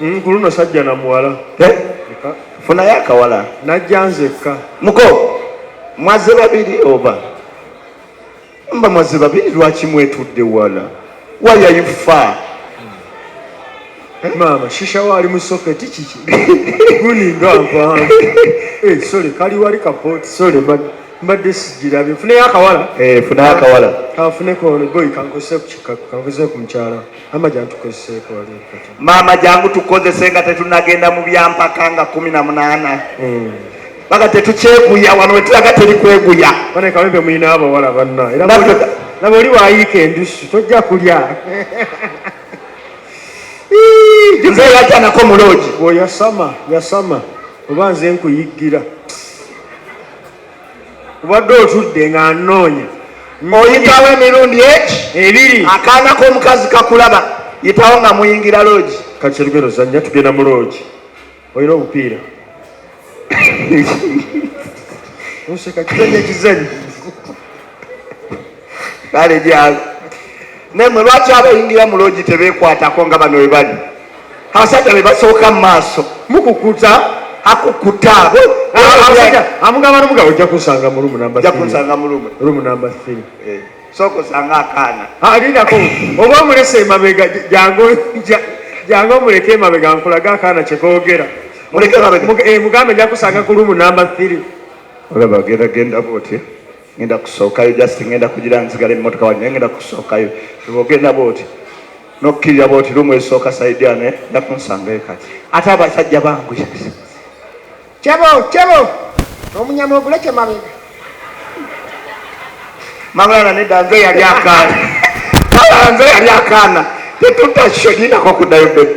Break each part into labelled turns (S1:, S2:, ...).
S1: mm, ku luno sajja na muwala eh?
S2: funayo akawala najja nzekka
S1: muko
S2: mwaze babiri oba mba mwaze babiri lwaki mwetudde wala wayayufa
S1: maama shisha wali mu soketi kiki guninga nva eh, sole kali wali kapoti sole mbadde sigirabye funeyo akawala eh, funayo akawala
S2: kafuneko
S1: boyi kankose ku kikaku kankose ku mukyala maama jangu
S2: tukozese nga tetunagenda mu byampaka nga kumi na munaana hmm. baga tetukyeguya wano wetulaga teri kweguya banekawempe mulina
S1: abawala banna era nabo oli wayiika endusu tojja kulya
S2: nze yajanako muloogi oyasama yasama
S1: oba nze nkuyiggira obadde otudde nga nnoonya oyitawo
S2: emirundi eki ebiri
S1: akaana k'omukazi
S2: kakulaba yitawo nga muyingira loogi kati olugero zanya
S1: tugenda mu loogi olina obupiira oseka kizanyo ekizanyo
S2: kale gyalo naye mwe lwaki abayingira mu loogi tebeekwatako nga bano webali abasajja be basooka mu maaso mukukuta akukuta
S1: amugamba nomuga ojja kunsanga mulumu namba eh, sooka osanga
S2: akaana alindako ah,
S1: oba omulesa emabega jange omuleke emabega nkulaga akaana kyekogera
S2: mugambe eh, njakusanga ku
S1: lumu namba 3 olaba genda
S2: genda botya ngenda kusookayo just ngenda kugira nzigala emmotoka wange naye ngenda kusookayo ogenda bwoti nokkirira bwoti lumu esooka saidiane eh? nda kunsangayo kati ate abasajja bangu kyebo
S3: kyebo omunyama oguleke mabega
S2: mabulana nedda nze yali akaana nze yali akaana tetutakyodinako kuddayo bebe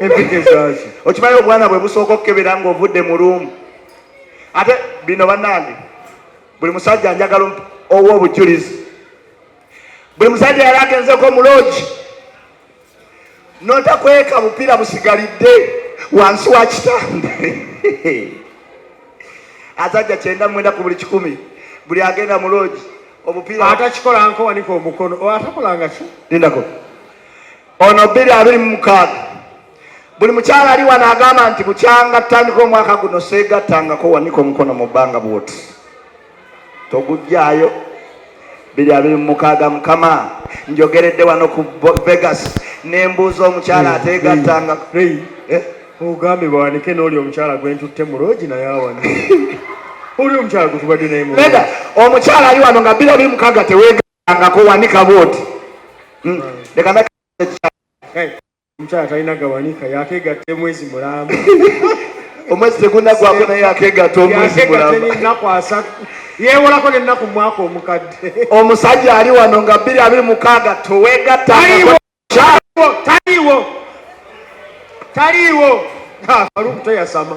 S2: empeke zaaki okimanyi obwana bwe busooka okukebera nga ovudde mu luumu ate bino banange buli musajja njagala owa obujulizi buli musajja yali agenzeko muloogi notakweka bupiira busigalidde wansi wa kitanda azajja kyenda mwenda ku buli kikumi buli agenda mu loogi obupiira atakikola nkowanika
S1: omukono atakolangaki lindako
S2: ono bbiri abiri mu mukaaga buli mukyala ali wano agamba nti bukyanga tandika omwaka guno seegattangako wanika omukono mu bbanga bwoti togujjaayo biri abiri mu mukaaga mukama njogeredde wano ku vegas nembuuza omukyala ateegattanga eh?
S1: ogambye bawanike nooli omukyala gwentutte mu loogi naye awana oli omukyala gwetubadde naye omukyala
S2: ali wano nga biri abiri mukaaga tewega angako wanika bwoti hmm. leka na
S1: omukyala talina gawanika yakegatta emwezi mulamba
S2: omwezi tegunagwako naye yakegatta omwezi mulambaenaku asatu
S1: yewolako nenaku mwaka omukadde omusajja ali
S2: wano nga bbiri abiri mukaaga towegatta taliwo
S1: taliwo faluku teyasama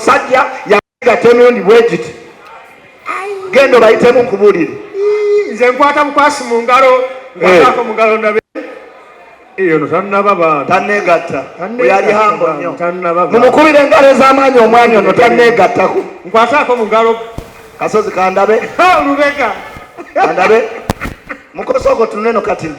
S2: Sajja yagatya emirundi bwe giti genda obayitemu nkubulire nze nkwata
S1: bukwasi mu ngalo nkwatako mu ngalo ndabe eyono tannaba bana tanneegatta
S2: oyo ali hambo nnyo mumukubira
S1: engalo ez'amaanyi
S2: omwanya ono tanneegattako nkwataako mu ngalo
S1: kasozi kandabe
S2: lubega
S1: kandabe
S2: mukosa ogo tunuleno katini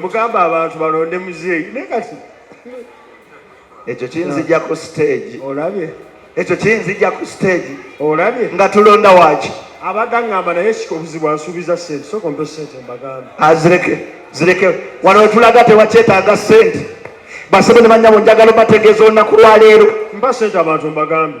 S1: mugamba abantu balonde muzeeyi naye kati
S2: ekyo kinzija ku stage olabye
S1: ekyo kinzija
S2: ku stage olabye nga
S1: tulonda waki
S2: abagangamba naye
S1: sika obuzibu ansuubiza sente soka ompe sente mbagamba azireke ah, zireke
S2: wano wetulaga tewakyetaaga sente basebe ne banyabo njagala obategeeza olunaku lwaleero mba sente abantu
S1: mbagambe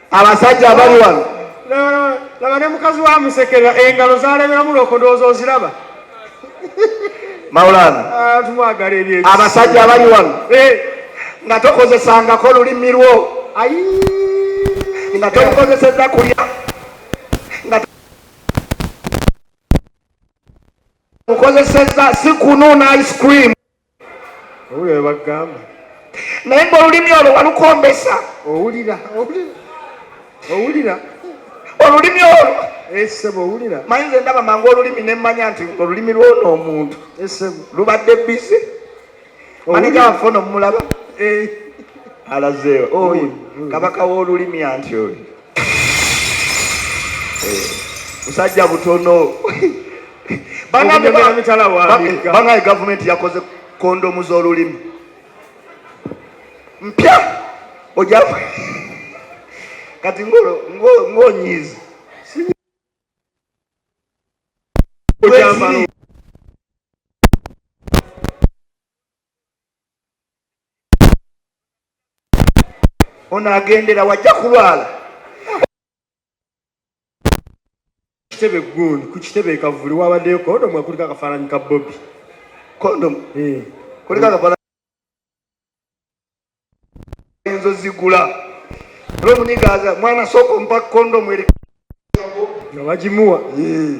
S2: abasajja abali wano laba
S1: ne mukazi wa musekera engalo zaleberamu lokodooza oziraba maulana
S2: ah, tumwagala ebye
S1: abasajja abali wano
S2: eh. nga tokozesangako olulimi lwo nga tolukozeseza kulya mukozeseza si kunuuna ice cream owulira
S1: bwe bagamba naye nga
S2: olulimi olwo walukombesa owulira
S1: owulira owulira
S2: olulimi olwo esebo eh, owulira
S1: manyi nze ndaba mangu
S2: olulimi nemmanya nti olulimi lwona omuntu esebo eh, lubadde
S1: bizi
S2: maneja waffe ono mumulaba eh. alazeewo oyo kabaka w'olulimi anti oyo musajja butono bangaye gavumenti yakoze kondomu z'olulimi mpya oja kati ngonyiizi ono agendera wajja kulwala
S1: kitebe gundi ku kitebe ekavuli wabaddeyo kondomu ekuliko akafaananyi ka bobi kondomu
S2: eh. kuliko akafaananyi enzo zigula olwomunigaza mwana sooka ompa kondomu eri nga
S1: bagimuwa eh.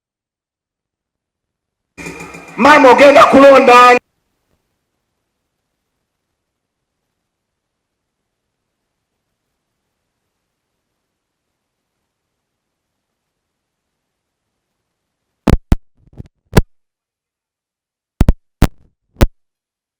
S2: maama ogenda kulonda ani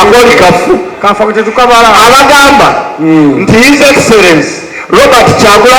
S2: akoli kafu kafa tetukabala abagamba hmm. nti his excellence robert kyagula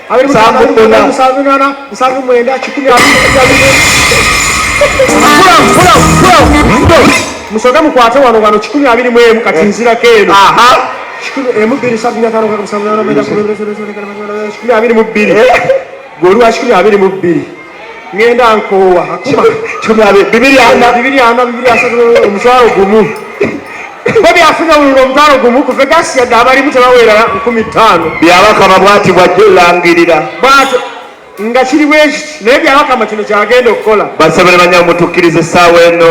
S2: musoke mukwate wano wano kikumi abiri mu emu kati nzirako eno emubbiri sabinatanokakumi abiri mu bbiri gweoli wa kikumi abiri mu bbiri ngenda nkoowa bibiri ana bibiri asatu omutwalo gumu bo byafunye obululu omutwalo gumu kuve gasi yadde abalimu tebaweerera nkumi ttaano byabakama bwati bwajja olangirira bwatyo nga kiri bwekiti naye byabakama kino kyagenda okukola basabire banyabo mutukkiriza essaawa eno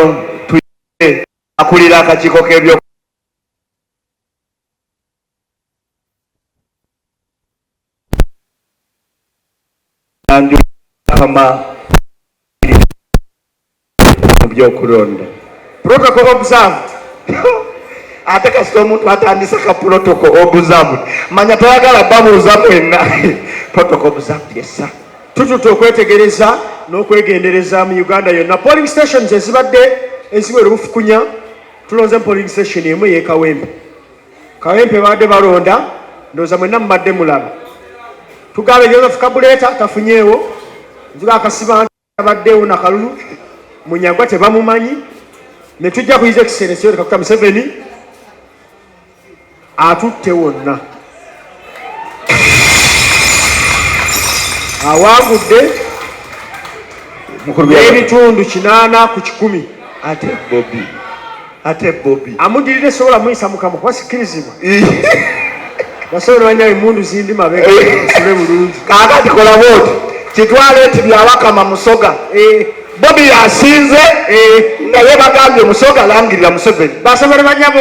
S2: tuye akulira akakiiko k'ebyo kama byokulonda protocol observed ate kasita omuntu atandise ka protocol observed manya toyagala babuuza mwenna protocol observed yesa tututa okwetegereza n'okwegendereza mu uganda yonna polling stations ezibadde eziwera obufukunya tulonze mu polling station emu eyekawembe Kawempe baadde balonda ndoza mwenna mubadde mulaba tugambe Joseph Kabuleta tafunyeewo nzuga akasiba abaddeewo nakalulu munyagwa tebamumanyi netujja kuyiza ekiseera ekiwereka kuta Museveni atutte wonna awangudde ebitundu kinaana ku kikumi ate bobi ate bobi amudirira esobola muyisa mukama kuba sikirizibwa basobola banya emundu zindi mabega osule bulungi kakati kola bwoti kitwale nti byawakama musoga eh. bobi yasinze eh. naye bagambye musoga langirira museveni basobola banyabo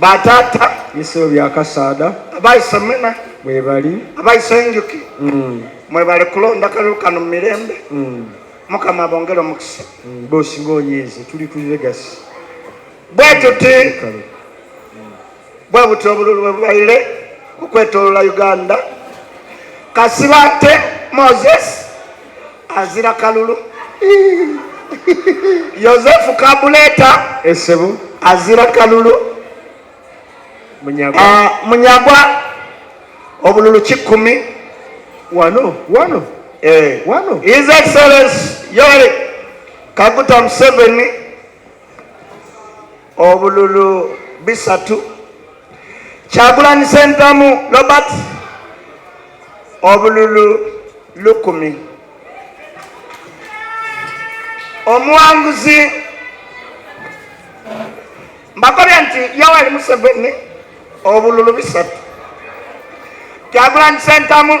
S2: batata bisolo bya kasaada abaise mena mwebali abaise enjuki mm. mwebali kulonda kalulu kano mu mirembe mm. mukama abongere omukisa mm. bosi ngaonyiize tuli ku legasi bwe tuti bwe buti obululu bwe bubaire okwetolola uganda kasibate moses azira kalulu yosefu kabuleta esebo eh, azira kalulu munyagwa, uh, munyagwa obululu kikumi wano wano eh. wano his excellence yoweri kaguta museveni obululu bisatu kyagulanyi sentamu robert obululu lukumi omuwanguzi mbakobye nti yoweri museveni obululu bisatu kyagulanyi sentamu